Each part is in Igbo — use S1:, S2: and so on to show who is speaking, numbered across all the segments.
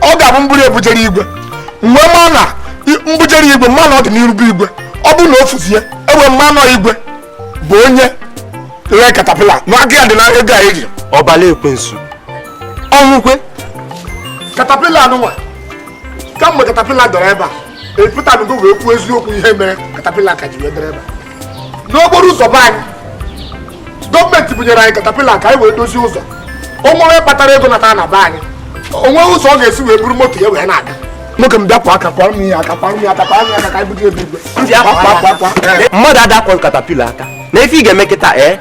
S1: ọ ga-abụ m buru bujere igwe mgbe ma na m bujere igwe ma na ọ dị n'iru bụ igwe ọ bụrụ na o fuzie e wee ma na ọ igwe bụ onye ree katapila na aka ya dị na ego a eji ọbala
S2: ekwensu
S1: ọnwụkwe katapila anụnwa kamgbe katapila dọrọ ebe a epụtanugo wee kwuo eziokwu ihe mere katapila ka ji wee dọrọ ebe a n'okporo ụzọ be anyị gọọmenti bunyere anyị katapila ka anyị wee dozie ụzọ o nwee onye kpatara ego nata na be anyị o nwee ụzọ ọ ga-esi wee buru moto ya wee na-aga nwoke m bịapụ aka kwara m ya aka kwara m ya aka kwara m ya aka ka anyị buga ebe
S2: igwe mmadụ adakwa katapila aka na ife ị ga-eme kịta ee eh?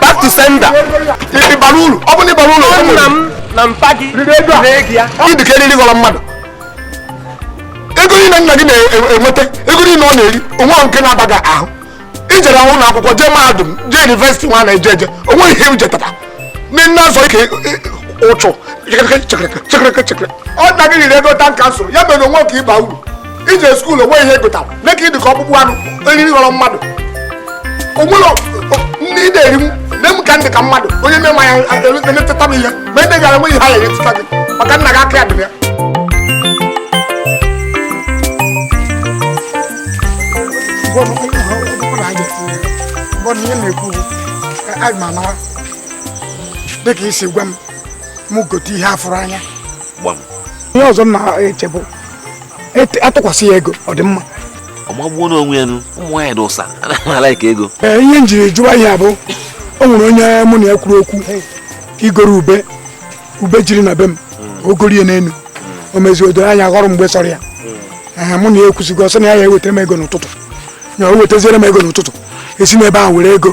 S1: back
S2: to sender ị bara
S1: uru ọ bụ na ị bara uru ọ nna m na
S2: mpa gị riri ego a ree gị ya ị dịka eriri ghọrọ mmadụ
S1: ego niile nna gị na-enweta ego niile ọ na-eri o nwehụ nke na-aba gị ahụ i jere ụlọ akwụkwọ jee mahadum jee yunivesiti nwa na eje eje o nwe ihe i jetara ị na-azọ ike ụchụ chekere chekere chekere ọ nna gị riri ego tanka nsọ ya mere o nwe ka ị ba uru i jee skuul o nwe ihe ị gụtara nee ka ị dị ka ọkpụkpụ anụ eriri ghọrọ mmadụ o nwere nri ị na-eri m nee m ka m dị ka mmadụ onye mee ma ya emetụta m ihe ma ede gara enweghị ha ya emetụta gị maka nna gị aka ya dịrị ya dịka i si gwa m m gote ihe afụrụ anya ihe ọzọ m na-echebụ atụkwasị ya ego ọ dị mma ọ magbuo
S3: n'onwe ya nụ ụmụ nwaanyị dị ụsa anaghị alaịk ego ee ihe m jiri jụwa
S1: ihe a bụ o nwere onye mụ na ya kwuru okwu igoro ube ube jiri na be m hmm. o gorie n'elu hmm. o meziri o doro anya ghọrọ mgbe sọrọ ya hmm. mụ na ya ekwusigo ọ sị na ya ya-ewetara m ego n'ụtụtụ ya o wetaziere m ego n'ụtụtụ i si n'ebe ahụ were ego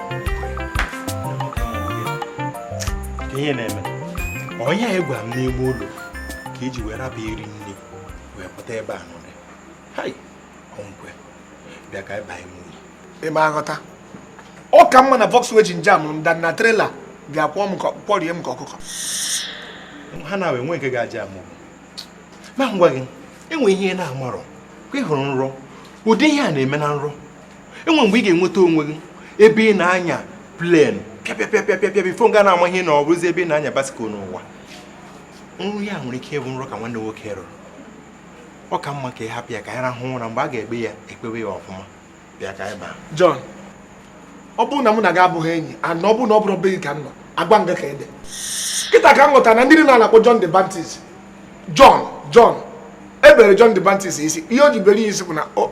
S4: ihe na-eme onye ya-agwa m n'ime ụlọ ka e ji wee raba iri nne wee pụta ebe a nọrọ hai ọnwụkwe bịa ka anyị baa ime ụlọ ị ma aghọta
S1: ọ ka mma na Volkswagen jam m than na trela bịa kwọọ m kwọrie m ka
S4: ọkụkọ ha na enwe nke ga-ajam mụ ma m gwa gị enwe ihe na-amarọ ka ị hụrụ nrọ ụdị ihe a na-eme na nrọ enwe mgbe ị ga-enweta onwe gị ebe ị na-anya plen pịapịapịapịapịa bifo ị ga na-ama ị hụ na ọ bụzi ebe ị na-anya basikụl n'ụwa nrọ ya nwere ike ịbụ nrọ ka nwanne nwoke rọrọ ọ ka mma ka ị hapụ ya ka anyị rahụ ụra mgbe a ga-ekpe ya e kpewe ya ọfụma bịa ka anyị baa
S1: John ọ bụrụ na mụ na gị abụghị enyi and ọ bụrụ na ọ bụrụ be gị ka m nọ agwa nga ka ede kịta ka m ghọtara na ndị niile na-akpọ John the Baptist John John e bere John the Baptist isi ihe o ji bere ya isi bụ na o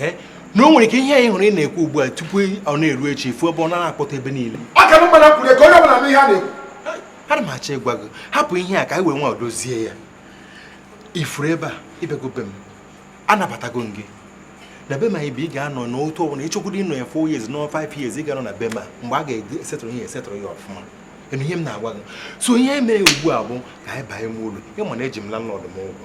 S4: Eh? na o nwere ike ihe anyị hụrụ ị na-ekwu ugbu a tupu ọ na-eru echi ị fụ ebe ọ na-akpọtụ ebe niile aka m mana kwuru
S1: ka onye ọbụla nụ ihe a na-ekwu ana m
S4: achọ ịgwa gị hapụ ihe a ka anyị were nwayọ dozie ya ị fụrụ ebe a ị bịago be m anabatago m gị na be m anyị bụ ị ga-anọ n'otu ọbụla ị chọkwuru ịnọ ya 4 years nọ 5 years ị ga-anọ na be m a mgbe a ga-esetụrụ ihe esetụrụ ya ọfụma ị nụ ihe m na-agwa gị so ihe e mere ugbu a bụ ka anyị banye m ụlọ ị ma na eji m landlord m ụgwọ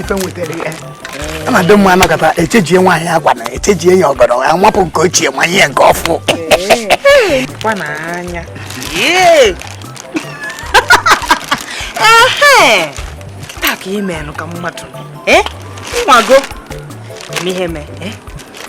S1: ife nwetara ya a na-adị mma anakọta echenjie nwaanyị akwa na echenjie ya ọgọdọ ya wapụ nke ochie wa ya nke
S5: ọfụụ kịta ka ị meelụ ka mmadụ nwago n'ihe mee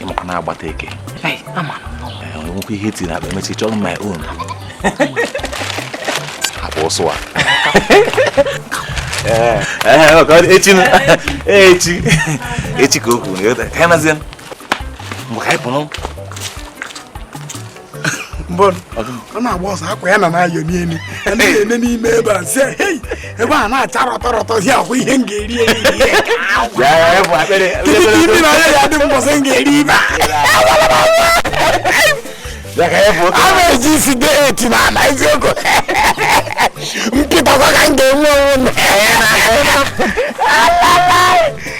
S3: ị makwa na-agbata
S5: eke enwekwa ihe
S3: tiri akpa emechi chọrọ my own akpa ọsụ a echi echi echi ka o kwuru ka ya nazie mgbe ka anyị pụrụ
S1: ọ na-agba ọsọ akwa ya na na-ayọ n'elu anaghị ene n'ime ebe a si hei ebe a na-acha rọtọ rọtọ si akwa ihe m ga-eri
S3: eri ndị na ya
S1: dị mbọsị m ga-eri ebe
S3: a na-eji isi
S1: dị eti na ala eziokwu kịta ka m ga-enwe onwe m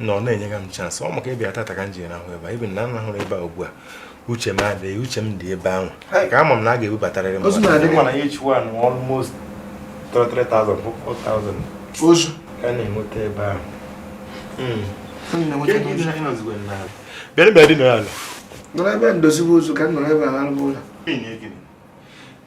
S4: na ọ na-enyega m chance ọ maka ịbịa tata ka m ji na ahụ ebe a even na m ahụrụ ebe a ugbu a uche m adịghị uche m dị ebe ahụ ka ama m na a ga-ebubatarịrị m ozu na-adị mana ya each
S1: one
S4: almost 3,000 4,000 ozu ka a
S1: na-enweta ebe
S4: ahụ hmm. bịara bịa dị n'ala nọrọ ebe
S1: ndozibe ozu ka m nọrọ ebe a na-alụba ụlọ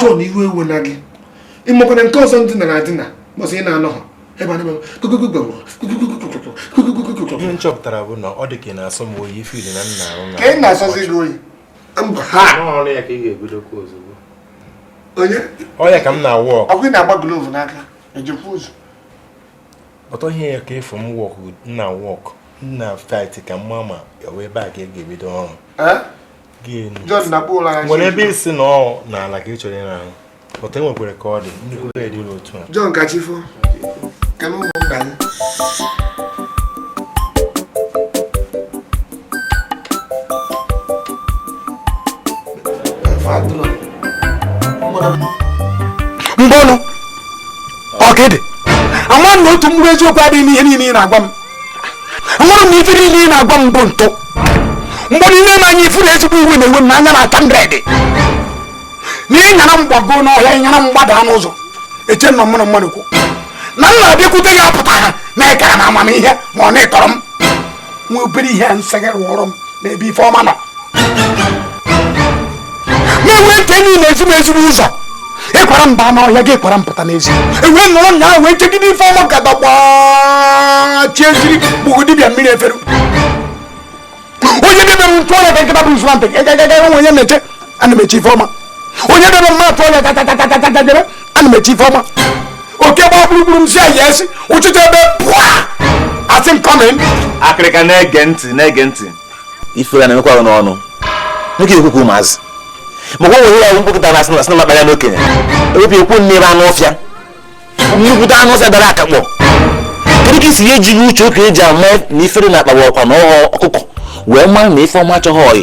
S4: John iwe ewena
S1: gị ị makwa na nke ọzọ ndị nara adịna mbọsị ị na-anọ ha ebe anyị ihe
S4: m chọpụtara bụ na ọ dị ka ị na-asọ m oyi fil na nna arụ na nke na-asọzi gị
S1: oyi mba ha ọrụ ya ka
S4: ị ga-ebidokwa
S1: ozugbo onye ọ ya ka m
S4: na-awụ ọkụ ị na-agba glove n'aka
S1: ejikwa ụzọ
S4: But ọ ihe ya ka ị fụ m work na work na fight ka mma ma ọ wụ ebe a ka ị ga-ebido ọrụ. Eh? Nwere ebe ị sị na ọ n'ala ka ị chọrọ ịrahụ. But e nwekwara ka ọ dị nnukwu bed otu a. John ka chi
S1: fo, ka m ụmụ mba mbọnụ ọkịdị ama m na otu mkpụrụ eziokwu adịghị n'ihe niile ị na-agwa m ahụrụ m na ife niile ị na-agwa m bụ ntụ mgbe ị nene m anya ị fụ na ezigbo iwe na-ewe m anya na-ata ndredị na ị nyara m gbago n'ọhịa ị nyara m gbada n'ụzọ eche m na ọ mụ na mmadụ kwu na m na-abịakwute gị apụtaghị na ị kara m amamihe ma ọ na ị tọrọ m nwa obere ihe m sị gị rụọrọ m n'ebe Ifeọma nọ na-enwe nke enyi na-ezi m ezigbo ụzọ ị kwara m baa n'ọhịa gị kwara m pụta n'ezi ewee nọrọ nya ahụ wee chegide Ifeọma ka dagbachie eziri gbụgo dibịa mmiri efere onye debe m ntụ ọrịa ka nkịta bụ nzụra ntị gagagaga onwe onye na-eche ana m eche Ifeọma onye debe m atụ ọrịa tatatatata debe ana m eche Ifeọma oke gba gburugburu m si ayi esi ụchịcha ebe pụa asị m come in akịrịka
S3: na-ege ntị ifere na-emekwa n'ọnụ nwoke ekwu okwu ụmụazị maka onwe ya mkpụkụta na a sị na makpara n'okenye ewepụ ekwu nne ebe anụ ọfịa nnukwute anụ ọfịa dara akakpọ kedu ka isi ya ejighị uche okenye ji ama na ifere na-akpagbu ọkwa na ọghọ ọkụkọ wee maa na Ifeọma achọghị ọyị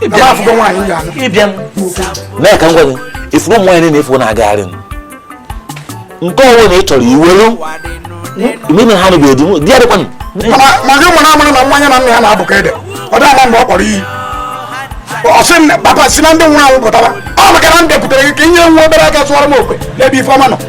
S3: ịbịa mee ka m gwa gị ị fụrụ ụmụ nwaanyị na-efu na-agagharị nke ọ wụna ị chọrọ iwelu n'ime ha na ga-edi di ya dịkwanụ ma gị
S1: mara amara na nwaanyị na nna ya na-abụ ka ede ọ dị ama mgbe ọ kpọrọ iyi ọ sị papa si na ndị nwụrụ anwụ pụtara ọ maka na m bịakwutere gị ka i nye nwa obere aka sụọrọ m okwu n'ebe Ifeọma nọ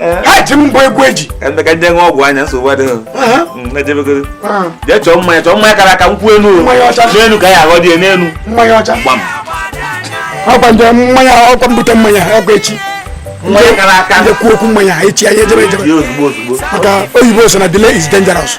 S1: Eh. ha ji m gwa egwu eji eme ka ndị nwe ọgwụ
S3: anya nsogbu adịghị mm, ejebegoro ah. jee chọọ mmanya chọọ mmanya kara aka nkwụ enu n'enu ka ya aghọ dị n'enu mmanya ọcha gbam
S1: ọkwa m jee mmanya ọkwa m bute mmanya ọkwa echi mmanya
S3: kara aka ndị kwuo okwu mmanya echi
S1: anyị ejebe ozugbo maka
S3: oyibo
S1: sị na delay is dangerous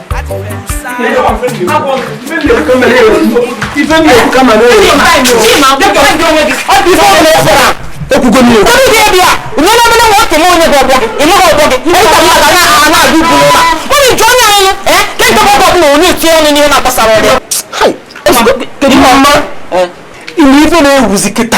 S1: Kedu mma? Ị wụ ife na-ewuzi kịta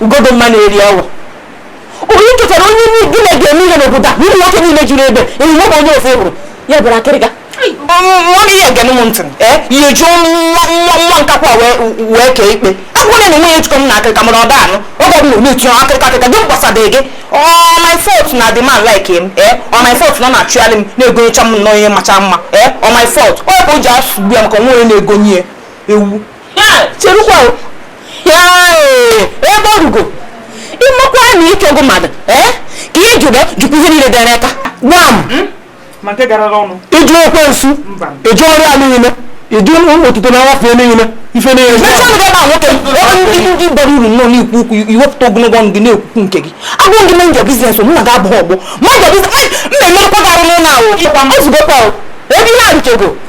S5: ugodoma na-eri awa onye chọtara onye nri gị na ga-eme ihe n'obodo a n'ihi nwoke niile juru ebe enyi nwoke onye ofe hụrụ ya bụrụ akịrịka nwa gị ya gere m ntị ihe jụọ nwa nwa nwa nkakwa wee kee ikpe akwụkwọ na nwunye jikọ m na akịrịka mana ọ da anụ ọ ga na ometu ya akịrịka akịrịka gị mkpasadịghị gị ọ my fault na the man like him ee ọ my fault na ọ na-achụgharị m na-egonyecha m nnọọ ihe macha mma ee ọ my fault ọ bụ o ji asụgbu ya maka o nwe onye na-egonye ewu cherukwa ebe orugo ịmakwa na ịchọgo mmadụ eh? ka ihe jụrụ jụkwa ihe niile dara aka gbam ịjụ ekwensu ịjụ ọrụ ya niile ịjụ otuto na nwafe niile ife niile nwoke ndị bara uru nọ na-ekwu okwu i wepụta ogologo ọnụ gị na-ekwukwu nke gị agwa m gị mind your business mụ na gị abụghị ọgbọ mba emerụkwa gị arụ n'ụlọ ahụ o zugokwa ebe ihe a rụchego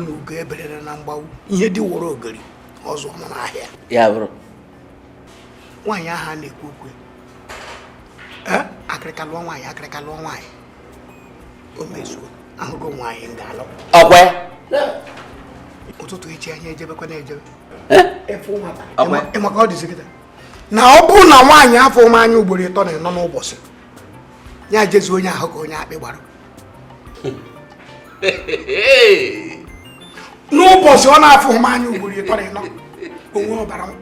S6: n'ugo eberere na mgbagbu ihe di woro ogori azụọna n'ahịa ya bụrụ nwaanyị ahụ a na-ekwu okwu ee akịrịka lụọ nwaanyị akịrịka lụọ nwaanyị o mezuo ahụgo nwaanyị m ga-alụ ọkwa
S7: ya
S6: ụtụtụ echi anyị ejebekwa na-ejebe efu nwata Ọkwa ya? Ị ma ka ọ dịzi kịta na ọ bụrụ na nwaanyị afụghị m anya ugboro ịtọ na ịnọ n'ụbọchị ya jezi onye ahụ ka onye akpị gbara n'ụbọchị ọ na-afụghị m anya ugboro ịtọ na ịnọ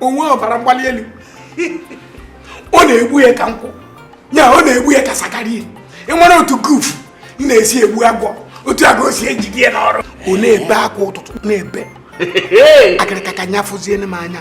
S6: o nwee ọbara mgbali elu ọ na-egbu ya ka nkwụ ya ọ na-egbu ya ka sakari e nwere otu gufu m na-esi egbu agwọ otu a ka o si ejide ya n'ọrụ ọ na-ebe akwa ụtụtụ na-ebe akịrịka ka nya fụzienu m anya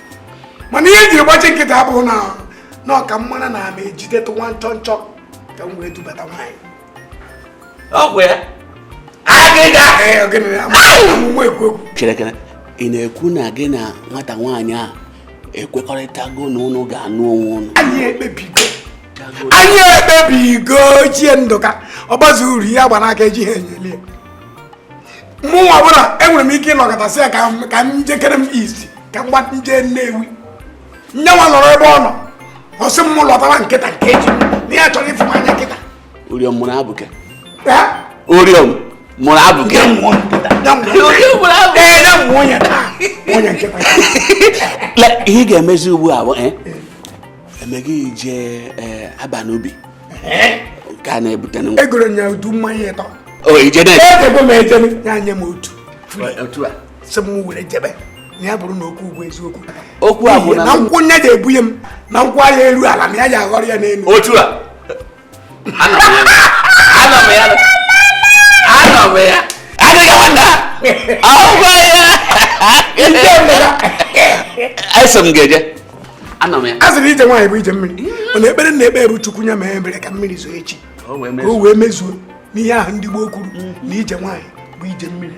S6: mana ihe e ji gbachi nkịtị a bụ na na ọ ka m mara na ama ejidetụ nwa nchọ nchọ ka m wee dubata nwaanyị
S7: ọgwụ ya agịga
S6: amụma ekwu ekwu cherekere
S8: ị na-ekwu na gị na nwata nwaanyị a ekwekọrịtago na ụnụ ga-anụ onwe ụnụ anyị
S6: ekpebigo anyị ekpebigo ochie ndụka ọgbazi uru ihe a gba n'aka ejiha enyo ele ya mụ nwa bụla enwere m ike ịnọkata sị ya ka m jekere m izi ka m gbata nje nnewi nya nwa nọrọ ebe ọ nọ ọ sị m lọtawa kịta kịta na ya chọrọ ịfụ m anya kịta oriọm mụrụ
S8: abụke oriọm mụrụ abụke ihe ị ga-emezi ugbu a bụ eh? emeghị ije eh, aba n'ubi nke a na-ebute na egoro nya udu mmanya
S6: ịtọ o ije na ejebe m ejebe ya nye m otu otu a sị m were jebe na ya bụrụ na okwu bụ eziokwu okwu a bụ
S8: na nkwụ nya ga-ebunye m
S6: na nkwụ a aya eru ala na ya ja-aghọrọ ya n'elu otu a
S8: eso m ga-eje a sịrị ije nwaanyị bụ ije
S6: mmiri mana ekpere m na-ekpe bụ chukwu nya mere ebere ka mmiri zoo echi ka o wee mezuo n'ihe ahụ ndị gboo kwuru na ije nwaanyị bụ ije mmiri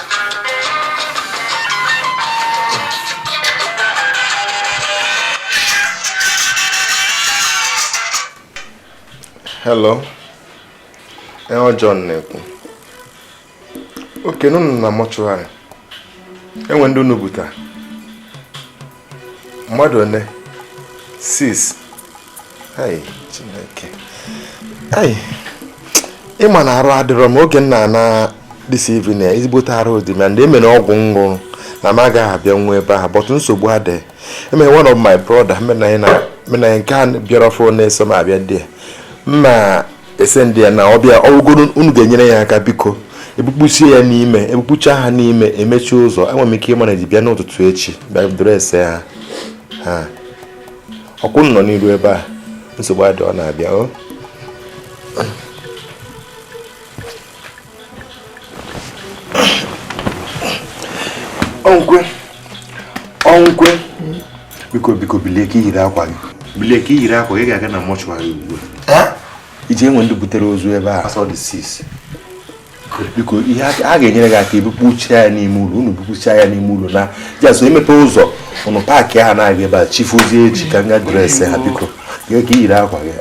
S4: hello ee eh, John na-ekwu okay unu nọ na mortuary enwe ndị unu buta mmadụ one six ai chineke ai ịma na arụ adịrọ m oge m na-ana this evening ezigbote arụ dị ma ndị emere ọgwụ m ṅụrụ na m agaghị abịa nwa ebe ahụ but nsogbu adịghị enwere one of my brother menanya nke a bịara ọfụụ na-eso m abịa there m ma esend ya na ọ bịa ọrụgoro unu ga-enyere ya aka biko ebukpuchie ya n'ime ebukpucha ha n'ime emechie ụzọ enwere m ike ịmanage bịa n'ụtụtụ echi bịa dress ha ha ọkwụ nọ n'iru ebe a nsogbu adịrọ ọ na-abịa o ọnkwe ọnkwe biko biko bilie ka iyiri akwa gị bilie ka iyiri akwa gị ga-aga na mortuary ugbu a iji enwe ndị butere ozu ebe a biko ihe a ga-enyere gị aka ebupụcha ya n'ime ụlọ unu bupụcha ya n'ime ụlọ na just emepe ụzọ unu pack ha na-aga ebe a chi fozie echi ka m ga dress ha biko jee ka iyiri akwa gị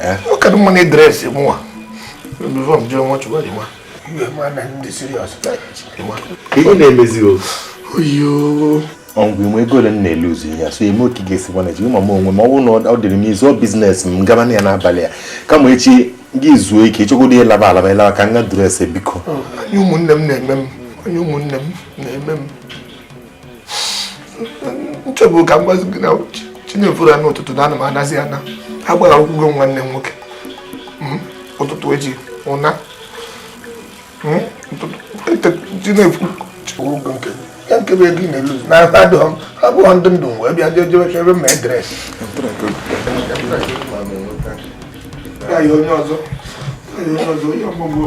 S4: ihe na-emezi oyo ọgwụ nwe ego ole m na-eluzi ya so eme okay ga-esi gwana ji ma m onwe m ọ bụrụ na ọ dịrị m izu business m gaba na ya n'abalị a kama echi gị zuo ike ịchọgodu ịlaba alaba ịlaba ka m ga dress biko
S1: onye ụmụnne m na-eme m onye ụmụnne m na-eme m m chọbu ka m gwazi gị na chinefuru n'ụtụtụ na ana m anazi ana ha gbara akwụkwọ nwanne m nwoke hmm? ụtụtụ eji ụna hmm? chinefuru ụgwọ nke ya nke bụ ego ị na-elu na ha adịghị ha bụghị ndị ndụ wee bịa jee jebe ebe ma edress ya onye ọzọ onye ọzọ onye ọgbọgbọ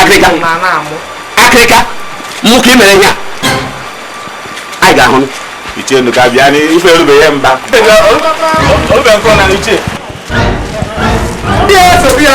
S5: akịrịka
S8: akịrịka mụ ka ị mere ihe a anyị ga-ahụ ichie nụ ka bịa
S3: n'ife erube ya mba olube nkọ na ichie
S1: bịa so bịa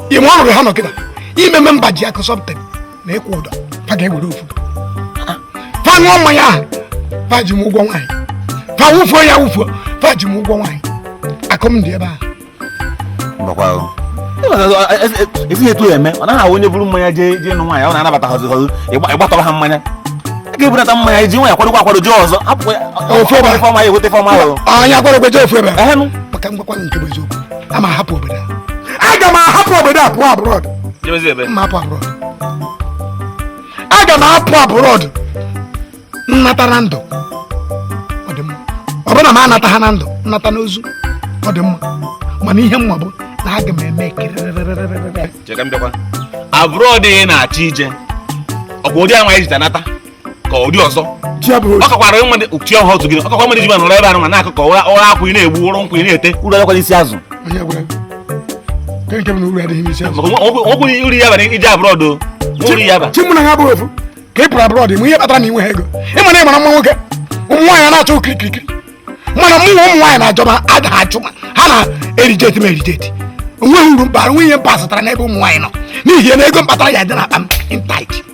S3: ime ọnọdụ ha nọkịta ime mme mba ji akụ sọpụta na ịkwụ ụdọ fa ga-ewere ofu fa ṅụọ mmanya ahụ fa ji m ụgwọ nwaanyị fa wụfuo ya wụfuo fa ji m ụgwọ nwaanyị akụ m dị ebe a esighị etu eme ọ naghị ahụ onye buru mmanya jee jee nụ nwaanyị ọ na-anabata ha ọzọ ịgbatọrọ ha mmanya a ga-ebunata mmanya iji nwaanyị kwadokwa akwado jee ọzọ hapụ ya ofe ọma ya eweta ife ọma ahụ anya gwara gweje ofu
S1: ebe maka m gwakwa nke bụ eziokwu ama ahapụ obodo a aga m ahapụ obodo a pụọ abroad jebezi ebe m ma apụ abroad aga m apụ abroad m nata na ndụ ọ dị mma ọ bụrụ na m anataha na ndụ m nata n'ozu ọ dị mma mana ihe m ma bụ na aga m eme kirịrịrịrịrịrị cheka m bịakwa
S3: abroad ị na-achọ ije ọ bụ ụdị anwa ijita nata ka ụdị ọzọ ọ kakwara nwa dị chi ọha otu gị ọ kakwa mmadụ ji ma nọrọ ebe ahụ ma na-akụ ka ụra uru akwụ ị na-egbu uru nkwụ ị na-ete uru adịkwa n'isi azụ okwu uru ya bara ije abroad uru ya bara chi mụ na ha bụrụ ofu
S1: ka ị pụrụ abroad m ihe kpatara na i nweha ego ị ma na ị mara mma nwoke ụmụ nwaanyị na-achọ okirikirikiri mana mụ na ụmụ nwaanyị na-ajụba adaghị achụ m ha na-ereject m ereject o nweghị uru mkpa onwe ihe m kpasatara n'ebe ụmụ nwaanyị nọ n'ihi na ego m kpatara ya dị n'akpa m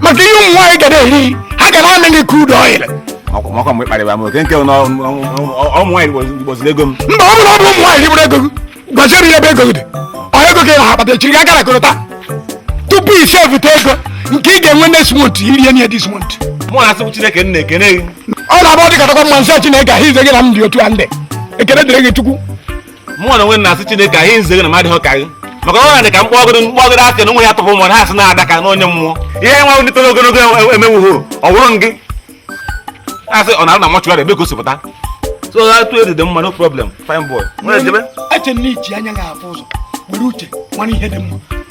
S6: maka ihe ụmụ nwaanyị ga na-eri ha ga na-amị gị crude oil ọkwa mgbe
S2: kparịba m okay nke na ụmụ nwaanyị rigbuziri ego m mba ọ bụrụ ọ bụ ụmụ nwaanyị
S6: rigburu ego gị gwaziere ya ebe ego gị dị ọ ego gị na-akpata chiri gị gara kọrọta tupu i sevụta ego nke ị ga-enwe next month i rie nye this month mụ na-asịbu chineke
S2: nna ekene gị ọ na-abụ ọ dịkatakwa
S6: m sị chineke ahụ ize gị na m dị otu a ndị ekene dịrị gị chukwu mụnwa na onwe
S2: m na-asị chineke anyị nzere na m adịhọ ka gị maka ọ dị ka mkpọgoro mkpọgoro asị na ụmụ ya tụpụ mmadụ ha sị na adaka na onye mmụọ ihe nwa ndị toro ogologo e- emewughị ọ wụrụ m gị asị ọ na-arụ na mortuary ebe gosipụta so ha tụ ọ dị mma no problem fine boy nwere jebe eche na
S6: i ji anya ga-afụ ụzọ were uche mara ihe dị mma